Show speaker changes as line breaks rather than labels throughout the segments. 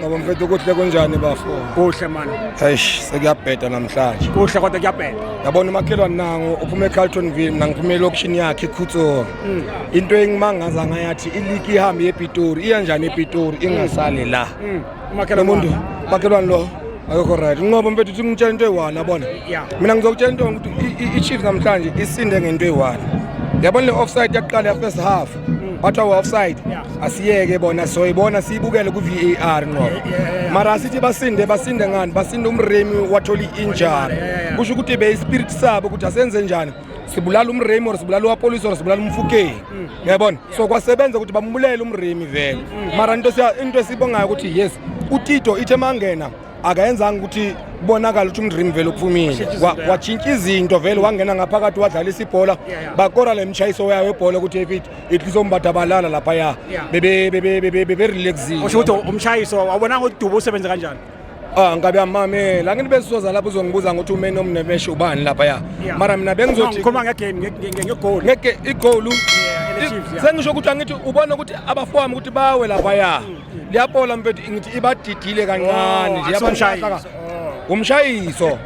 Ngoba mfethu kuhle
kunjani bafo? Kuhle mani.
Eish sekuyabheda
namhlanje. Kuhle kodwa kuyabheda.
Yabona umakhelwane
nangu uphuma eCarltonville mina ngiphuma elokushini yakhe eKhutso. Mm. Into engimangaza ngayathi iligi ihamba yePitori iya njani ePitori ingasali la. Mm. Umakhelwane umuntu makhelwane lo akekho right ngoba mfethu uthi ngitshela into eyi-one yabona mina ngizokutshela into ukuthi i-chiefs namhlanje isinde ngento eyi-one yabona le offside yaqala ya-first half bathiwa we-offside asiyeke bona soyibona siyibukele kwi-v a r nqo mara asithi basinde basinde ngani basinde umremi wathola i-injari kusho ukuthi beyispiriti sabo ukuthi asenze njani sibulala umremi or sibulala uwapolisi or sibulala umfukeni mm. yabona so kwasebenza ukuthi bambulele umremi vele mm. mara into esibongayo ukuthi yes utito ithe mangena akayenzanga ukuthi kubonakala ukuthi umdream vele uphumile watshintsha izinto vele wangena ngaphakathi wadlalisa ibhola bakora le mshayiso yayo webhola ukuthi epit ihlizombatha balala lapha ya beberelaxile usho ukuthi umshayiso
wabonanga ukuthi dubu usebenze kanjani Ah ngabe
amamela ngini besizoza lapho uzongibuza ngokuthi umeni omnemeshe ubani lapha ya mara mina bengizothi ngikhuluma ngegame
ngegoal ngeke igoal
sengisho ukuthi angithi ubona ukuthi abafowami ukuthi bawe lapha ya mm. liyapola mfethu ngithi ibadidile kancane nje yabalahla ka- umshayiso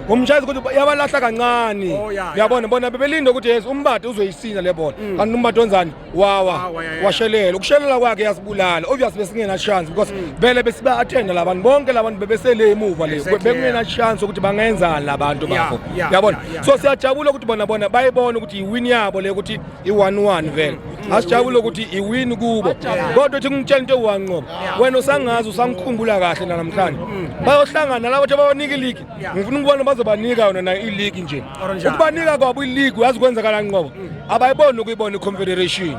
umshayiso ukuthi yabalahla kancane Oh, ya, ya. uyabona bona bebelinde ukuthi yes umbadi uzoyisina le ball kanti umbadi onzani wawa Wawa, ya, ya. washelela ukushelela kwakhe yasibulala obvious besingena chance because vele besiba attend labantu bonke labantu bebesele emuva le Exactly, bekungena chance ukuthi bangenzani labantu Ya, bafo ya, uyabona ya, ya. so siyajabula ukuthi bona bona bayibona ukuthi yiwini yabo le ukuthi i-one-one vele asijabule ukuthi iwini kubo kodwa ethi ngitshela into ewu-one ngoba wena usangazi usangikhumbula kahle nanamhlanje bayohlangana labo ukuthi babanika iligi ngifuna ukubona bazobanika yona nayo iligi nje ukubanika kwabo iligi uyazi kwenzakala nqobo abayiboni ukuyibona i-confederation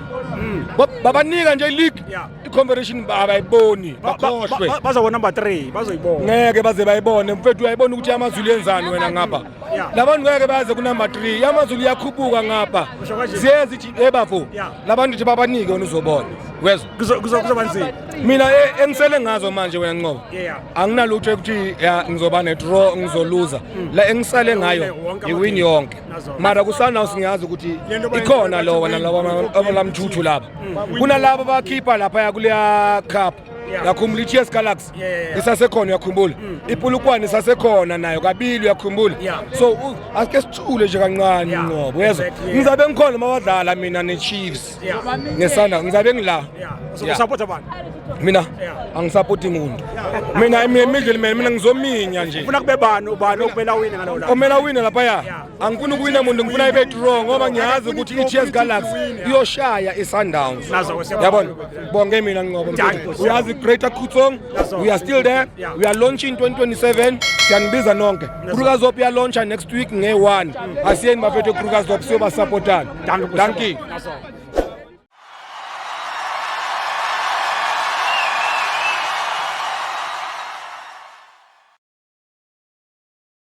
babanika nje iligi i-confederation abayiboni bakhohlwe bazobona number three
bazoyibona ngeke baze bayibone
mfethu uyayibona ukuthi amazulu yenzani wena ngapha labantu ngeke baze kunumber 3 yamazulu iyakhuphuka ngapha siyezi ebafo labantu thi babanike wena uzobona wezwa kuzoba
nzima mina e, engisele
ngazo manje wena nqobo anginalutho ekuthi ngizoba nedraw ngizoluza hmm. la engisale ngayo ngiwini yonke mara kusanaw singiyazi ukuthi ikhona lo wena laba lamthuthu laba hmm. kunalabo bakhipha lapha yakuleya cup yakhumbula i-ts galaxy West yeah, yeah, yeah. isasekhona uyakhumbula mm, mm. ipulukwane isasekhona nayo kabili uyakhumbula yeah. so uh, asike sithule nje kancane yeah. ngoba uyezwa exactly, yeah. ngizabe ngikhona mabadlala mina neChiefs yeah. nesanda ngizabe ngila yeah. so yeah. support abantu
mina yeah.
angisapoti muntu yeah. mina imidlalo mina ngizominya nje ufuna kube bani ubani
okumela wine ngalola omela wine lapha ya yeah.
angifuni ukuwina muntu ngifuna ibe draw ngoba ngiyazi ukuthi i-ts galaxy iyoshaya i-sundowns yabona bonge mina nqobo uyazi greater kutsong we are still there we are launching 2027 siyanibiza nonke krukazop iyalauncha next week nge-one asiyeni bafethu krukazop siyobasapotana danki